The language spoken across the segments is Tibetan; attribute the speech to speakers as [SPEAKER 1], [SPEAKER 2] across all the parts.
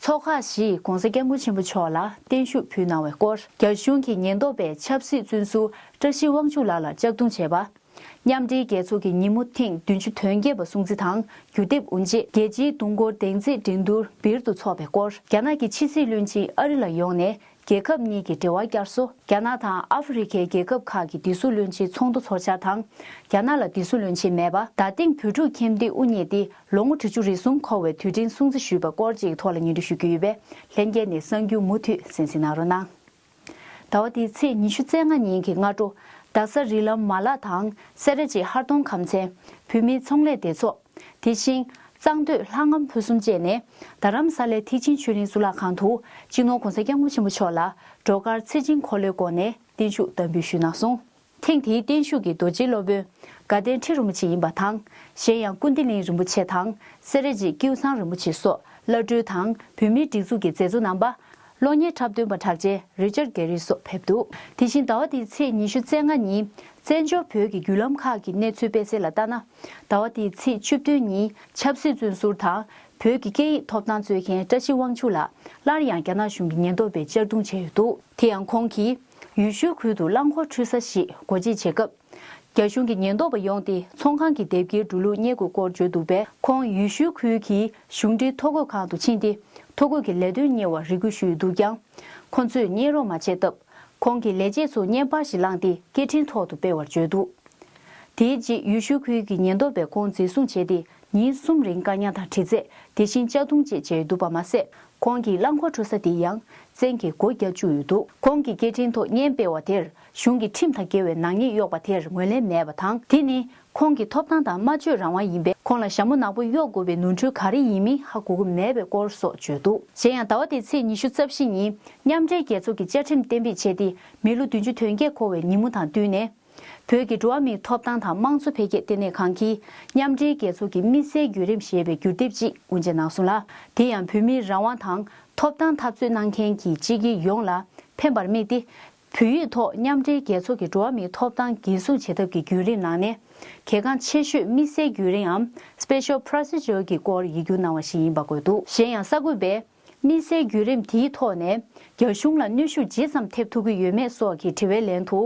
[SPEAKER 1] ཚོགས་ཁག་བཞིས ྋགོང་ས ྋསྐྱབས་མགོན་ཆེན་པོ་མཆོག་ལ་བརྟན་བཞུགས་ཕུལ་གནང་བའི་སྐོར་རྒྱ་གཞུང་གི་ཉེན་རྟོག་པས་ཆབ་སྲིད་བཙོན་ཟུར་བཀྲ་ཤིས་དབང་ཕྱུག་ལགས་ལ་ལྕགས་རྡུང་བྱས་པ། མཉམ་འབྲེལ་རྒྱལ་ཚོགས་ཀྱི་ཉིན་མོ་ཐེངས་བདུན་ཅུ་དོན་བརྒྱད་པ་སྲུང་གཙི་དང་བརྒྱུད་འདེབས་དབུ་འབྱེད་རྒྱལ་སྤྱིའི་དུང་འཁོར་གདེང་འཛིན་འགྲན་བསྡུར་སྦིར་དུ་འཚོགས་པའི་སྐོར་རྒྱ་ནག་གི་ཕྱི་སྲིད་བློན་ཆེན་ཨ་རི་ལ་ཡོང་ནས་རྒྱལ་ཁབ་གཉིས་ཀྱི་འབྲེལ་བ་བསྐྱར་གསོ། རྒྱ་ནག་དང་ཨ་ཧྥེ་རི་ཁའི་རྒྱལ་ཁབ་ཁག་གི་དིས་སུ་བློན་ཆེའི་ཚོགས་འདུ་འཚོགས་འཆར་དང། རྒྱ་ནག་ལ་དིས་སུ་བློན་ཆེན་མེད་པ། ད་ཐེངས་བོད་ཕྲུག་ཁྱིམ་སྡེ་དབུ་བརྙེས་ཏེ་ལོ་ངོ་དྲུ་ཅུ་རེ་གསུམ་འཁོར་བའི་དུས་དྲན་སྲུང་བརྩི་ཞུས་པ་སྐོར་གཅིག་ཐོག་ལ་ཉེ་དུས་ཞུ་རྒྱུ་ཡོད་པས་ལྷན་རྒྱས་ནས་གསང་རྒྱུ་མུ་མཐུད་གསན་གཟིགས་གནང་རོགས་གནང། ཟླ་བ་འདིའི་ཚེས་ཉི་ཤུ་རྩེ་ལྔ་ཉིན་གྱི་སྔ་དྲོ། རྡ་ས་རི་ལམ་མ་ལག་དང་སེ་ར་བྱེས་ཧར་གདོང་ཁམས་ཚན་བུད་མེད་ཚོང་ལས་བདེ་ཚོགས། དེ་བཞིན། གཙང་སྟོད་ལྷ་ངམ་ཕུ་གསུམ་བཅས་ནས་རྡ་རམ་ས་ལའི་ཐིག་ཆེན་ཆོས་གླིང་གཙུག་ལག་ཁང་དུ་སྤྱི་ནོར་གོང་ས་སྐྱབས་མགོན་ཆེན་པོ་མཆོག་ལ་བྲོ་གར་ཚེ་སྦྱིན་འཁོར་ལོའི་སྒོ་ནས་བརྟན་བཞུགས་བསྟར་འབུལ་ཞུས་གནང་སོང། ཐེངས་དེའི་བརྟན་བཞུགས་ཀྱི་རྡོ་རྗེའི་སློབ་དཔོན། དགའ་ལྡན་ཁྲི་རིན་པོ་ཆེ་ཡིན་པ་དང་གཞན་ཡང་ཀུན་བདེ་གླིང་རིན་པོ་ཆེ་དང་སེ་ར་རྗེ་ཀེའུ་ཚང་རིན་པོ་ཆེ་སོགས་བླ་སྤྲུལ་དང་བོད་མིའི་སྒྲིག་འཛུགས་ཀྱི་མཛད་གཙོ་རྣམ་པ། གློ་སྙེ་འཁྲབ་སྟོན་པ་གྲགས་ཅན་རི་ཅར་གྷེ་རི་སོགས་ཕེབས་འདུག་དེ་བཞིན་ཟླ་བ་འདིའི་ཚེས་ཉི་ཤུ་རྩེ་ལྔ་ཉིན་བཙན་བྱོལ་བོད་ཀྱི་བརྒྱུད་ལམ་ཁག་གི་གནས་ཚུལ་སྤེལ་གསལ་ལ་ལྟ་ན། ཟླ་བ་འདིའི་ཚེས་བཅུ་བདུན་ཉིན་ཆབ་སྲིད་བཙོན་ཟུར་དང་བོད་ཀྱི་སྐད་ཡིག་ཐོབ་ཐང་རྩོད་མཁན་བཀྲ་ཤིས་དབང་ཕྱུག་ལགས་སླར་ཡང་རྒྱ་ནག་གཞུང་གི་ཉེན་རྟོག་པས་གཅར་རྡུང་བྱས་ཡོད་འདུག་དེ་ཡང་ཁོང་གིས་ཡུལ་ཤུལ་ཁུལ་དུ་རླངས་འཁོར་འཁྲུད་ས་ཞིག་སྒོ་འབྱེད་བྱེད་སྐབས། རྒྱ་གཞུང་གི་ཉེན་རྟོག་པ་ཡོང་སྟེ་ཚོང་ཁང་གི་དེབ་འགེལ་འགྲོ་ལུགས་རྙེད་དགོས་སྐོར་བརྗོད་འདུག་པས་ཁོང་ཡུལ་ཤུལ་ཁུལ་གྱི་གཞུང་འབྲེལ་ཐོ་འགོད་ཁང་དུ་ཕྱིན་ཏེ་ཐོ་འགོད་ཀྱི་ལས་དོན་གཉེར་བར་རེ་སྐུལ་ཞུས་ཡོད་འདུག་ཀྱང། ཁོ་ཚོས་བརྙན་རོགས་མ་བྱས་སྟབས། ཁོང་གིས་ལས་བྱེད་ཚོ་བརྙན་པར་ཞིག་བླངས་ཏེ་སྐད་འཕྲིན་ཐོག་ཏུ་སྤེལ་བར་བརྗོད་འདུག་དེའི་རྗེས་ཡུལ་ཤུལ་ཁུལ་གྱི་ཉེན་རྟོག་པས་ཁོང་འཛིན་བཟུང་བྱས་ཏེ་ཉིན་གསུམ་རིང་བཀག་ཉར་དང་དྲི་རྩད་དེ་བཞིན་གཅར་རྡུང་བཅས་བྱས་འདུག་པ་མ་ཟད་ཁོང་གི་རླངས་འཁོར་འཕྲོ་ས་དེ་ཡང་བཙན་གྱིས་སྒོ་བརྒྱག་བཅུག་ཡོད་འདུག་ཁོང་གིས་སྐད་འཕྲིན་ཐོག་བརྙན་སྤེལ་བ་དེར་གཞུང་གི་ཁྲིམས་དང་འགལ་བའི་ནག་ཉེས་གཡོགས་པ་དེར་ངོས་ལེན་མེད་པ་དང་དེ་ནི་ཁོང་གི་ཐོབ་ཐང་དང་སྨྲ་བརྗོད་རང་དབང་ཡིན་པས་ཁོང་ལ་ཞྭ་མོ་ནག་པོ་གཡོག་དགོས་པའི་ནོར་འཁྲུལ་ག་རེ་ཡིན་མིན་ཧ་གོ་གི་མེད་པའི་སྐོར་སོགས་བརྗོད་འདུག། གཞན་ཡང་ཟླ་བ་འདིའི་ཚེས་ཉི་ཤུ་རྩ་བཞི་ཉིན་མཉམ་འབྲེལ་རྒྱལ་ཚོགས་ཀྱི་བཅའ་ཁྲིམས་གཏན་འབེབས་བྱས་ཏེ་མི་ལོ་བདུན་ཅུ་དོན་བརྒྱད་འཁོར་བའི་ཉིན་མོ་དང་བསྟུན་ནས། བོད་ཀྱི་འགྲོ་བ་མིའི་ཐོབ་ཐང་དང་དམངས་གཙོ་འཕེལ་རྒྱས་ལྟེ་གནས་ཁང་གིས་མཉམ་འབྲེལ་རྒྱལ་ཚོགས་ཀྱི་དམིགས་བསལ་བརྒྱུད་རིམ་ཞེས་པའི་བསྒྱུར་དེབ་ཅིག་དབུ་འབྱེད་གནང་སོང་ལ། དེ་ཡང་བོད་མིའི་རང་དབང་དང་ཐོབ་ཐང་འཐབ་རྩོད་གནང་མཁན་གྱི་སྤྱི་དགེ་ཡོངས་ལ་ཕན་པར་དམིགས་ཏེ། བོད་ཡིག་ཐོག་མཉམ་འབྲེལ་རྒྱལ་ཚོགས་ཀྱི་འགྲོ་བ་མིའི་ཐོབ་ཐང་འགན་སྲུང་བྱེད་ཐབས་ཀྱི་རྒྱུན་རིང་ནང་ནས་གལ་འགངས་ཆེ་ཤོས་དམིགས་བསལ་རྒྱུན་རིངའམ Special Procedure གི་སྐོར་ཡིག་སྒྱུར་གནང་བ་ཞིག་ཡིན་པ་དགོས་འདུག་གཞན་ཡང་གསར་འགོད་པས་དམིགས་བསལ་བརྒྱུད་རིམ་དེའི་ཐོག་ནས་རྒྱ་གཞུང་ལ་གནོད་ཤུགས་ཇི་ཙམ་ཐེབས་ཐུབ་ཀྱི་ཡོད་མེད་སོགས་ཀྱི་དྲི་བའི་ལན་དུ།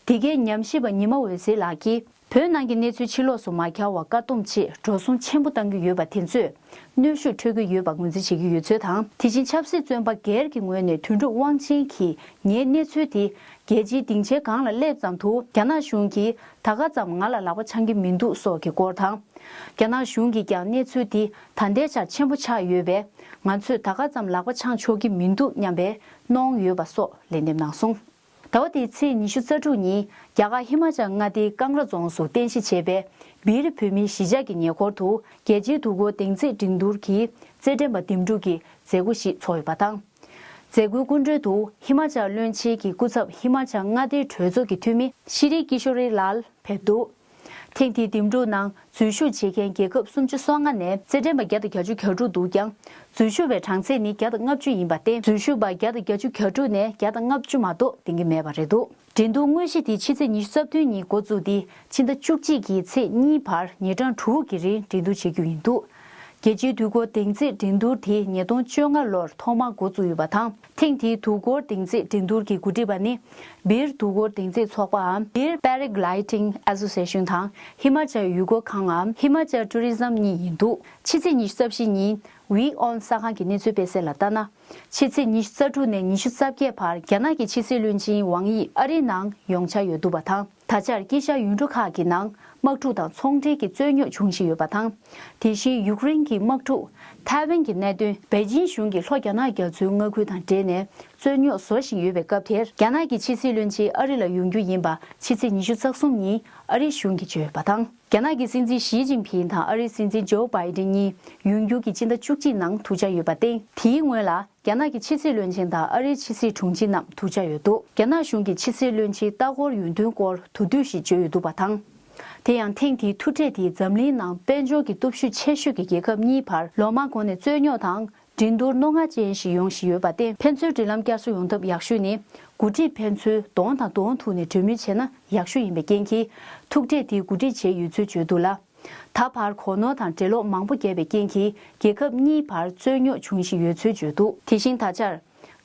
[SPEAKER 1] འདི་གའི་ཉམས་ཞིབ་པ་ཉི་མ་འོད་ཟེར་ལགས་ཀྱིས། བོད་ནང་གི་གནས་ཚུལ་ཕྱི་ལོགས་སུ་མ་གྱར་བར་བཀག་སྡོམ་ཆེད་འགྲོ་བསྲུང་ཆེན་པོ་གཏང་རྒྱུ་ཡོད་པ་དེ་ཚོས་གནོད་ཤུགས་འཕྲོད་ཀྱི་ཡོད་པ་ངོས་འཛིན་བྱེད་ཀྱི་ཡོད་ཚུལ་དང་དེ་བཞིན་ཆབ་སྲིད་བཙོན་པ་སྒེར་གྱི་ངོས་ནས་དོན་གྲུབ་དབང་ཆེན་གྱིས་ངའི་གནས་ཚུལ་དེ་རྒྱལ་སྤྱིའི་སྡིངས་ཆའི་སྒང་ལ་སླེབས་ཙམ་དུ་རྒྱ་ནག་གཞུང་གིས་ད་ག་ཙམ་ང་ལ་ལག་པ་འཆང་གི་མི་འདུག་སོགས་ཀྱི་སྐོར་དང། རྒྱ་ནག་གཞུང་གིས་ཀྱང་གནས་ཚུལ་དེ་ད་ལྟའི་ཆར་ཆེན་པོ་ཆགས་ཡོད་པས་ང་ཚོས་ད་ག་ཙམ་ལག་པ་འཆང་ཆོག་གི་མི་འདུག་སྙམ་པའི་གནོང་ཡོད་པ་སོགས་ལན་འདེབས་གནང་སོང། ཟླ་བ་འདིའི་ཚེས་ཉི་ཤུ་རྩ་དྲུག་ཉིན་རྒྱ་གར་ཧི་མ་ཅཱལ་མངའ་སྡེའི་ཀང་ར་རྫོང་སུ་རྟེན་གཞི་བྱས་པའི་སྦི་རི་བོད་མིའི་གཞིས་ཆགས་ཀྱི་ཉེ་འཁོར་དུ་རྒྱལ་སྤྱིའི་འདུ་འགོད་གདེང་ཚད་འགྲན་བསྡུར་གྱི་རྩེད་འགྲན་པ་འདེམས་སྒྲུག་གི་མཛད་སྒོ་ཞིག་འཚོགས་ཡོད་པ་དང། མཛད་སྒོའི་སྐུ་མགྲོན་དུ་ཧི་མ་ཅཱལ་བློན་ཆེན་གྱི་སྐུ་ཚབ་ཧི་མ་ཅཱལ་མངའ་སྡེའི་གྲོས་ཚོགས་ཀྱི་འཐུས་མི་ཤི་རི་ཀི་ཤོ་རི་ལཱལ་ཕེབས་འདུག། ཐེངས་འདིའི་འདེམས་སྒྲུག་ནང་འཛུལ་ཞུགས་བྱེད་མཁན་རྒྱལ་ཁབ་སུམ་ཅུ་སོ་ལྔ་ནས་རྩེད་འགྲན་པ་བརྒྱ་དང་གྱ་བཅུ་གྱ་དྲུག་འདུག་ཀྱང། འཛུལ་ཞུགས་པའི་གྲངས་ཚད་ནི་བརྒྱ་དང་ལྔ་བཅུ་ཡིན་པར་བརྟེན་འཛུལ་ཞུགས་པ་བརྒྱ་དང་གྱ་བཅུ་གྱ་དྲུག་ནས་བརྒྱ་དང་ལྔ་བཅུ་མ་གཏོགས་འདེང་གི་མེད་པ་རེད་འདུག་འགྲན་བསྡུར་དངོས་གཞི་དེ་ཕྱི་ཚེས་ཉི་ཤུ་རྩ་བདུན་ཉིན་འགོ་བཙུགས་ཏེ་ཕྱི་ཟླ་བཅུ་གཅིག་གི་ཚེས་གཉིས་བར་ཉིན་གྲངས་དྲུག་གི་རིང་འགྲན་བསྡུར་བྱེད་རྒྱུ་ཡིན་འདུག་རྒྱལ་སྤྱིའི་དུས་འགོ་འདེང་རྩེད་འགྲན་བསྡུར་དེ་ཉིས་སྟོང་བཅོ་ལྔ་ལོར་ཐོག་མར་འགོ་བཙུགས་ཡོད་པ་དང། ཐེངས་འདིའི་དུས་འཁོར་གདེང་འཇིགས་འགྲན་བསྡུར་གྱི་གོ་སྒྲིག་པ་ནི། སྦིར་དུས་འཁོར་གདེང་འཇིགས་ཚོགས་པའམ་སྦིར Paragliding Association དང་ཧི་མཱ་ཅལ་ཡུལ་སྐོར་ཁངའམ་ཧི་མཱ་ཅལ Tourism གཉིས་ཡིན་འདུག་ཕྱི་ཚེས་ཉི་ཤུ་རྩ་བཞི་ཉིན Wee On གསར་ཁང་གི་གནས་ཚུལ་སྤེལ་གསལ་ལ་ལྟ་ན། ཕྱི་ཚེས་ཉི་ཤུ་རྩ་དྲུག་ནས་ཉི་ཤུ་རྩ་བརྒྱད་བར་རྒྱ་ནག་གི་ཕྱི་སྲིད་བློན་ཆེན་ཝང་དབྱི་ཨ་རིའི་ནང་ཡོང་འཆར་ཡོད་འདུག་པ་དང། ད་ཆར་དཀྱིལ་ཤར་ཡུལ་གྲུ་ཁག་གི་ནང་དམག་འཁྲུག་དང་ཚོང་འབྲེལ་གྱི་རྩོད་རྙོག་འབྱུང་བཞིན་ཡོད་པ་དང། དེ་བཞིན་ཡུཀ་རེན་གྱི་དམག་འཁྲུག། ཐའེ་ཝན་གྱི་གནད་དོན། པེ་ཅིན་གཞུང་གིས་ལྷོ་རྒྱ་ནག་རྒྱ་མཚོའི་མངའ་ཁུལ་དང་འབྲེལ་ནས་རྩོད་རྙོག་བཟོ་བཞིན་ཡོད་པའི་སྐབས་དེར་རྒྱ་ནག་གི་ཕྱི་སྲིད་བློན་ཆེན་ཨ་རི་ལ་ཡོང་རྒྱུ་ཡིན་པ་ཕྱི་ཚེས་ཉི་ཤུ་རྩ་གསུམ་ཉིན་ཨ་རིའི་གཞུང་གིས་བརྗོད་ཡོད་པ་དང། རྒྱ་ནག་གི་སྲིད་འཛིན་ཞི་ཅིན་ཕིན་དང་ཨ་རིའི་སྲིད་འཛིན་ཇོ་བྷའི་ཏེན་གཉིས་ཡུན་རྒྱུན་གྱི་སྤྱི་ཟླ་བཅུ་གཅིག་ནང་ཐུག་འཆར་ཡོད་པ་སྟེ། དེའི་སྔོན་ལ་རྒྱ་ནག་གི་ཕྱི་སྲིད་བློན་ཆེན་དང་ཨ་རིའི་ཕྱི་སྲིད་དྲུང་ཆེ་རྣམས་ཐུག་འཆར་ཡོད་འདུག་རྒྱ་ནག་གཞུང་གི་ཕྱི་སྲིད་བློན་ཆེའི་ལྟ་སྐོར་ཡུན་ཐུང་སྐོར་དུ་བསྡུས་ཤིག་བརྗོད་ཡོད་འདུག་པ་དང། དེ་ཡང་ཐེངས་དེའི་ཐུག་འཕྲད་དེས་འཛམ་གླིང་ནང་དཔལ་འབྱོར་གྱི་སྟོབས་ཤུགས་ཆེ་ཤོས་ཀྱི་རྒྱལ་ཁབ་གཉིས་བར་ལོ་མང་གོང་ནས་རྩོད་རྙོག་དང་འགྲན་བསྡུར་རྣོ་ངར་ཅན་ཞིག་ཡོང་བཞིན་ཡོད་པ་སྟེ། ཕན་ཚུན་འབྲེལ་ལམ་བསྐྱར་གསོ་ཡོང་ཐབས་ཡག་ཤོས་ནི། འགོ་ཁྲིད་ཕན་ཚུན་གདོང་དང་གདོང་ཐུག་ནས་གྲོས་མོལ་བྱས་ན་ཡག་ཤོས་ཡིན་པའི་རྐྱེན་གྱིས། ཐུག་འཕྲད་དེ་གོ་སྒྲིག་བྱས་ཡོད་ཚུལ་བརྗོད་འདུག་ལ། ད་བར་གོ་ནོར་དང་འགྲེལ་ལོག་མང་པོ་རྒྱབ་པའི་རྐྱེན་གྱིས་རྒྱལ་ཁབ་གཉིས་བར་རྩོད་རྙོག་འབྱུང་བཞིན་ཡོད་ཚུལ་བརྗོད་འདུག། དེ་བཞིན་ད་ཆར།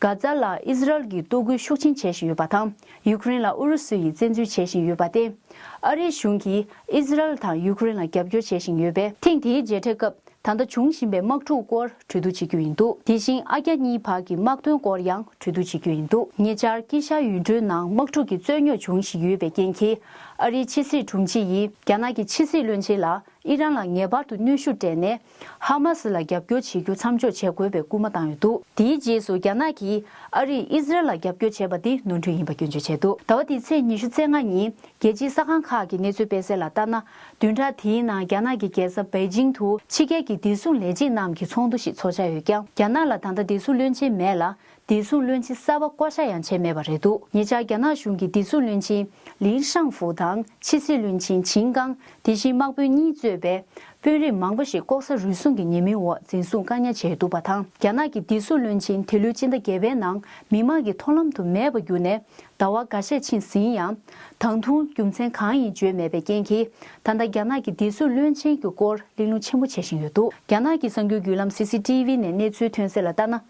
[SPEAKER 1] གྷ་ཛ་ལ་ཨིས་རལ་གྱིས་ལྟོ་གོས་ཤུགས་ཆེན་བྱེད་བཞིན་ཡོད་པ་དང། ཡུ་ཀེ་རེན་ལ་ཨུ་རུ་སུ་ཡིས་བཙན་འཛུལ་བྱེད་བཞིན་ཡོད་པ་སྟེ། ཨ་རིའི་གཞུང་གིས་ཨིས་རལ་དང་ཡུ་ཀེ་རེན་ལ་རྒྱབ་སྐྱོར་བྱེད་བཞིན་ཡོད་པས། ཐེངས་དེའི་མཇལ་འཕྲད་སྐབས་ད་ལྟ་འབྱུང་བཞིན་པའི་དམག་འཁྲུག་སྐོར་གྲོས་བསྡུར་བྱེད་རྒྱུ་ཡིན་འདུག་དེ་བཞིན་ཨ་རྒྱ་གཉིས་བར་གྱི་དམག་དོན་སྐོར་ཡང་གྲོས་བསྡུར་བྱེད་རྒྱུ་ཡིན་འདུག་ཉེ་ཆར་ཀི་ཤཱ་ཡུལ་གྲུའི་ནང་དམག་འཁྲུག་གི་རྩོད་རྙོག་འབྱུང་བཞིན་ཡོད་པའི་རྐྱེན་གྱིས་ཨ་རིའི་ཕྱི་སྲིད་དྲུང་ཆེ་ཡིས་རྒྱ་ནག་གི་ཕྱི་སྲིད་བློན་ཆེན་ལ་ཨི་རན་ལ་ངེས་པར་དུ་གནོན་ཤུགས་སྤྲད་ནས་ཧ་མ་སི་ལ་རྒྱབ་སྐྱོར་བྱེད་རྒྱུ་མཚམས་འཇོག་བྱེད་དགོས་པའི་སྐུལ་མ་བཏང་ཡོད་འདུག་དེའི་རྗེས་སུ་རྒྱ་ནག་གིས་ཨ་རིས་ཨི་ཟི་རལ་ལ་རྒྱབ་སྐྱོར་བྱས་པ་དེ་ནོར་འཁྲུལ་ཡིན་པ་སྐྱོན་བརྗོད་བྱས་འདུག་ཟླ་བ་འདིའི་ཚེས་ཉི་ཤུ་ཚེས་ལྔ་ཉིན་རྒྱལ་སྤྱིའི་གསར་ཁང་ཁག་གི་གནས་ཚུལ་སྤེལ་གསལ་ལ་ལྟར་ན། བདུན་ཕྲག་དེའི་ནང་རྒྱ་ནག་གི་རྒྱལ་ས་པེ་ཅིང་དུ་ཕྱི་རྒྱལ་གྱི་བདེ་སྲུང་ལས་བྱེད་རྣམས་ཀྱི་ཚོགས་འདུ་ཞིག་ཚོགས་འཆར་ཡོད་ཀྱང་རྒྱ་ནག་ལ་ད་ལྟ་བདེ་སྲུང་བློན་ཆེན་མེད་ལ། བདེ་སྲུང་བློན་ཆེན་གསར་པ་བསྐོ་བཞག་ཡང་བྱས་མེད་པ་རེད་འདུག་ཉེ་ཆར་རྒྱ་ནག་གཞུང་གིས་བདེ་སྲུང་བློན་ཆེན་ལིན་ཧྲང་ཧྥུའུ་དང་ཕྱི་སྲིད་བློན་ཆེན་ཆིན་ཀང་དེ་བཞིན་དམག་དཔོན་གཉིས་གཙོས་པའི་དཔོན་རིགས་མང་པོ་ཞིག་ལྐོག་ཟ་རུལ་སུངས་ཀྱི་ཉེས་མིང་འོག་འཛིན་བཟུང་བཀག་ཉར་བྱས་འདུག་པ་དང་རྒྱ་ནག་གི་བདེ་སྲུང་བློན་ཆེན་དེ་ལོའི་སྤྱི་ཟླ་བརྒྱད་པའི་ནང་མི་མང་གི་མཐོང་ལམ་དུ་མེད་པར་གྱུར་ནས་ཟླ་བ་འགའ་ཤས་ཕྱིན་ཟིན་ཡང། དང་ཐུང་རྒྱུ་མཚན་གང་ཡིན་བརྗོད་མེད་པའི་རྐྱེན་གྱིས་ད་ལྟ་རྒྱ་ནག་གི་སྡེ་སྲོལ་བློན་ཆེན་གྱི་སྐོར་གླེང་སློང་ཆེན་པོ་བྱེད་བཞིན་ཡོད་འདུག་རྒྱ་ནག་གི་གསར་འགྱུར་བརྒྱུད་ལམ CCTV ནས་གནས་ཚུལ་ཐོན་གསལ་ལ་ལྟར་ན།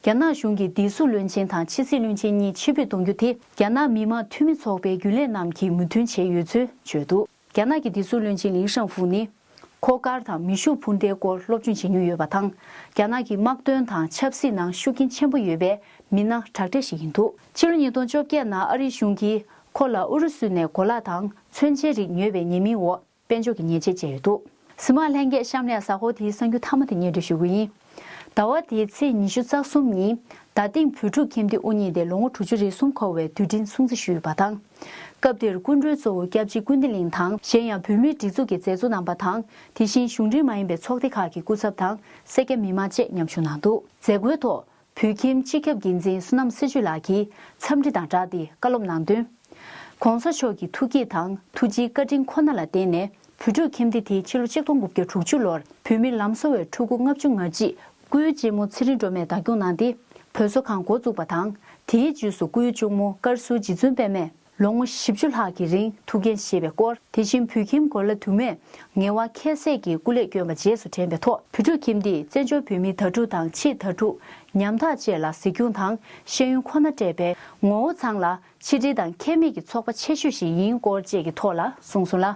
[SPEAKER 1] རྒྱ་ནག་གཞུང་གིས་སྡེ་སྲོལ་བློན་ཆེན་དང་ཕྱི་སྲིད་བློན་ཆེན་གཉིས་ཕྱིར་ཕུད་གཏོང་རྒྱུ་དེ་རྒྱ་ནག་མི་དམངས་འཐུས་མི་ཚོགས་པའི་རྒྱུན་ལས་རྣམས་ཀྱིས་མོས་མཐུན་བྱས་ཡོད་ཚུལ་བརྗོད་འདུག། རྒྱ་ནག་གི་སྡེ་སྲུང་བློན་ཆེན་ལིན་ཧྲང་ཧྥུའུ་ནི། མཁོ་དཀར་དང་མི་ཤུགས་འཕུར་མདེལ་སྐོར་སློབ་སྦྱོང་བྱེད་མྱོང་ཡོད་པ་དང། རྒྱ་ནག་གི་དམག་དོན་དང་ཆབ་སྲིད་ནང་ཤུགས་རྐྱེན་ཆེན་པོ་ཡོད་པའི་མི་སྣ་དྲག་གྲས་ཤིག་ཡིན་འདུག། ཕྱི་ལོ་ཉིས་སྟོང་བཅོ་བརྒྱད་ནང་ཨ་རིའི་གཞུང་གིས་ཁོ་ལ་ཨུ་རུ་སུ་ནས་གོ་ལ་དང་མཚོན་ཆའི་རིགས་ཉོས་པའི་ཉེས་མིང་འོག་དཔལ་འབྱོར་གྱི་ཉེས་ཆད་བཅད་ཡོད་འདུག། གཟིམ་མ་ལྷན་རྒྱས་བཤམས་ལས་ཟ་ཧོར་དེའི་གསང་རྒྱུད་ཐ་མ་དེ་ཉེར་འགྲོ་ཞུ་གི་ཡིན། ཟླ་བ་དེའི་ཚེས་ཉི་ཤུ་རྩ་གསུམ་ཉིན། ཟླ་སྟེང་བོད་ཕྲུག་ཁྱིམ་སྡེ་དབུ་བརྙེས་ཏེ་ལོ་ངོ་དྲུག་ཅུ་རེ་གསུམ་འཁོར་བའི་དུས་དྲན་སྲུང་བརྩི་ཞུས་ཡོད་པ་དང། སྐབས་དེར་སྐུ་མགྲོན་གཙོ་བོ་སྐྱབས་རྗེ་ཀུན་བདེ་གླིང་དང་གཞན་ཡང་བོད་མིའི་སྒྲིག་འཛུགས་ཀྱི་མཛད་གཙོ་རྣམ་པ་དང་དེ་བཞིན་གཞུང་འབྲེལ་མ་ཡིན་པའི་ཚོགས་སྡེ་ཁག་གི་སྐུ་ཚབ་དང་སེར་སྐྱ་མི་མང་བཅས་མཉམ་ཞུགས་གནང་འདུག་མཛད་སྒོའི་ཐོག་བོད་ཁྱིམ་སྤྱི་ཁྱབ་འགན་འཛིན་བསོད་ནམས་སེ་ཇུ་ལགས་ཀྱིས་འཚམས་འདྲི་དང་སྦྲགས་ཏེ་བཀའ་སློབ་གནང་དོན། ྋགོང་ས་མཆོག་གི་ཐུགས་བསྐྱེད་དང་ཐུགས་རྗེའི་བཀའ་དྲིན་ཁོ་ན་ལ་བརྟེན་ནས་བོད་ཕྲུག་ཁྱིམ་སྡེ་དེ་ཕྱི་ལོ་ཆིག་སྟོང་དགུ་བརྒྱ་དྲུག་ཅུ་ལོར་བོད་མིར་ལམ་གསོ་བའི་ཕྲུ་གུ་ལྔ་བཅུ་ང་གཅིག་སྐུའི་གཅེན་མོ་ཚེ་རིང་སྒྲོལ་མས་བདག་སྐྱོང་གནང་སྟེ་བོད་བཟོ་ཁང་འགོ་བཙུགས་པ་དང་དེའི་རྗེས་སུ་སྐུའི་གཅུང་མོ་ཀར་སུ་རྗེ་བཙུན་པདྨས་ལོ་ངོ་བཞི་བཅུ་ལྷག་གི་རིང་ཐུགས་འགན་བཞེས་པའི་སྐོར། དེ་བཞིན་བོད་ཁྱིམ་གོ་ལ་དུ་མས་ངལ་བ་ཁྱད་བསད་ཀྱིས་སྐུ་ལས་བསྐྱོན་པ་རྗེས་སུ་དྲན་པའི་ཐོག་བོད་ཕྲུག་ཁྱིམ་འདིས་བཙན་བྱོལ་བོད་མིའི་དྭ་ཕྲུག་དང་ཕྱིའི་དྭ་ཕྲུག་ཉམ་ཐག་བཅས་ལ་གཟིགས་སྐྱོང་དང་ཤེས་ཡོན་ཁོ་ན་སྤྲད་པས་ངོ་བོ་ཚང་ལ་ཆིག་སྒྲིལ་དང་ཁྱད་མེད་ཀྱི་ཚོགས་པ་ཆེ་ཤོས་ཤིག་ཡིན་སྐོར་བཅས་ཀྱི་ཐོག་ལ་གསུངས་སོང་ལ།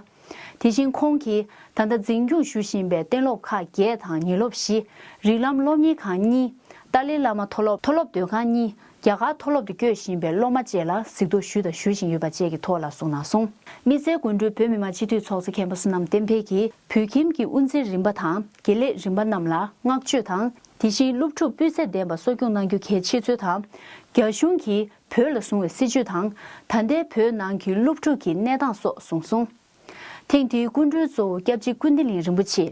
[SPEAKER 1] དེ་བཞིན་ཁོང་གིས་ད་ལྟ་འཛིན་སྐྱོང་ཞུ་བཞིན་པའི་གཏན་སློབ་ཁག་བརྒྱད་དང་ཉིན་སློབ་བཞི། རིགས་ལམ་སློབ་གཉེར་ཁང་གཉིས། ཏཱ་ལའི་བླ་མ་མཐོ་སློབ་མཐོ་སློབ་སྡོད་ཁང་གཉིས་རྒྱ་གར་མཐོ་སློབ་ཏུ་བསྐྱོད་བཞིན་པའི་སློབ་མ་བཅས་ལ་གཟིགས་རྟོག་ཞུས་དང་ཞུ་བཞིན་ཡོད་པ་བཅས་ཀྱི་ཐོག་ལ་གསུངས་གནང་སོང། དམིགས་བསལ་དགོན་སྤྲུལ་བོད་མི་མང་སྤྱི་འཐུས་ཚོགས་གཙོ་མཁན་པོ་བསོད་ནམས་བསྟན་འཕེལ་གྱིས་བོད་ཁྱིམ་གྱི་དབུ་འཛིན་རིམ་པ་དང་དགེ་ལས་རིམ་པ་རྣམས་ལ་བསྔགས་བརྗོད་དང། དེ་བཞིན་སློབ་ཕྲུག་སྤུས་ཚད་ལྡན་པ་གསོ་སྐྱོང་གནང་རྒྱུ་གལ་ཆེ་ཚུལ་དང། རྒྱ་གཞུང་གིས་བོད་ལ་བཟུང་བའི་སྲིད་བྱུས་དང་ད་ལྟའི་བོད་ནང་གི་སློབ་ཕྲུག་གི་གནས་སྟངས་སོགས་གསུངས་སོང། ཐེངས་དེའི་སྐུ་མགྲོན་གཙོ་བོ་སྐྱབས་རྗེ་ཀུན་བདེ་གླིང་རིན་པོ་ཆེ།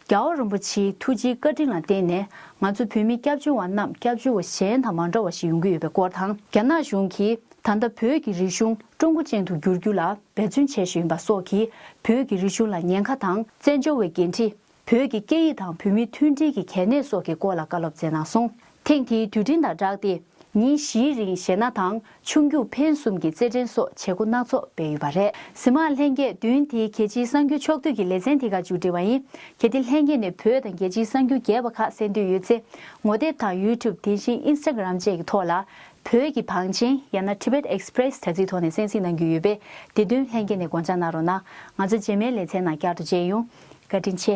[SPEAKER 1] རྒྱ་བོད་རིན་པོ་ཆེའི་ཐུགས་རྗེའི་བཀའ་དྲིན་ལ་བརྟེན་ནས་ང་ཚོ་བོད་མི་སྐྱབས་བཅོལ་བ་རྣམས་སྐྱབས་བཅོལ་བ་གཞན་དང་མ་འདྲ་བ་ཞིག་ཡོང་གི་ཡོད་པའི་སྐོར་དང། རྒྱ་ནག་གཞུང་གིས་ད་ལྟ་བོད་ཀྱི་རིག་གཞུང་ཀྲུང་གོ་ཅན་དུ་བསྒྱུར་རྒྱུ་ལ་འབད་བརྩོན་བྱེད་བཞིན་ཡོད་པ་སོགས་ཀྱིས་བོད་ཀྱི་རིག་གཞུང་ལ་ཉེན་ཁ་དང་བཙན་བྱོལ་བའི་འགན་འཁྲི་བོད་ཀྱི་སྐད་ཡིག་དང་བོད་མིའི་མཐུན་སྒྲིལ་གྱི་གལ་གནད་སོགས་ཀྱི་སྐོར་ལ་བཀའ་སློབ་སྩལ་གནང་སོང། ཐེངས་དེའི་དུས་དྲན་དང་སྦྲགས་ཏེ་ཉིན་བཞིའི་རིང་གཞས་སྣ་དང་ཆུང་རྒྱུགས་འཕེན་གསུམ་གྱི་རྩེད་འགྲན་སོགས་བྱེད་སྒོ་སྣ་ཚོགས་སྤེལ་ཡོད་པ་རེད། ཟི་མ་ལྷན་རྒྱས་བདུན་དེའི་རྒྱལ་སྤྱིའི་གསར་འགྱུར་ཕྱོགས་བསྡུས་ཀྱི་ལེ་ཚན་དེ་ག་མཇུག་སྒྲིལ་བ་ཡིན། གལ་ཏེ་ལྷན་རྒྱས་ནས་བོད་དང་རྒྱལ་སྤྱིའི་གསར་འགྱུར་རྒྱས་པ་ཁག་གསན་འདོད་ཡོད་ཚེ་ངོ་དེབ་དང YouTube དེ་བཞིན Instagram བཅས་ཀྱི་ཐོག་ལ་བོད་ཀྱི་བང་ཆེན་ཡང་ན Tibet Express དྲ་ཚིགས་ཐོག་ནས་གསན་གཟིགས་གནང་རྒྱུ་ཡོད་པས་དེ་དོན་ལྷན་རྒྱས་ནས་དགོངས་འཇགས་གནང་རོགས་གནང། ང་ཚོ་རྗེས་མའི་ལེ་ཚན་ནང་བསྐྱར་དུ་མཇལ་ཡོང། བཀའ་དྲིན་ཆེ།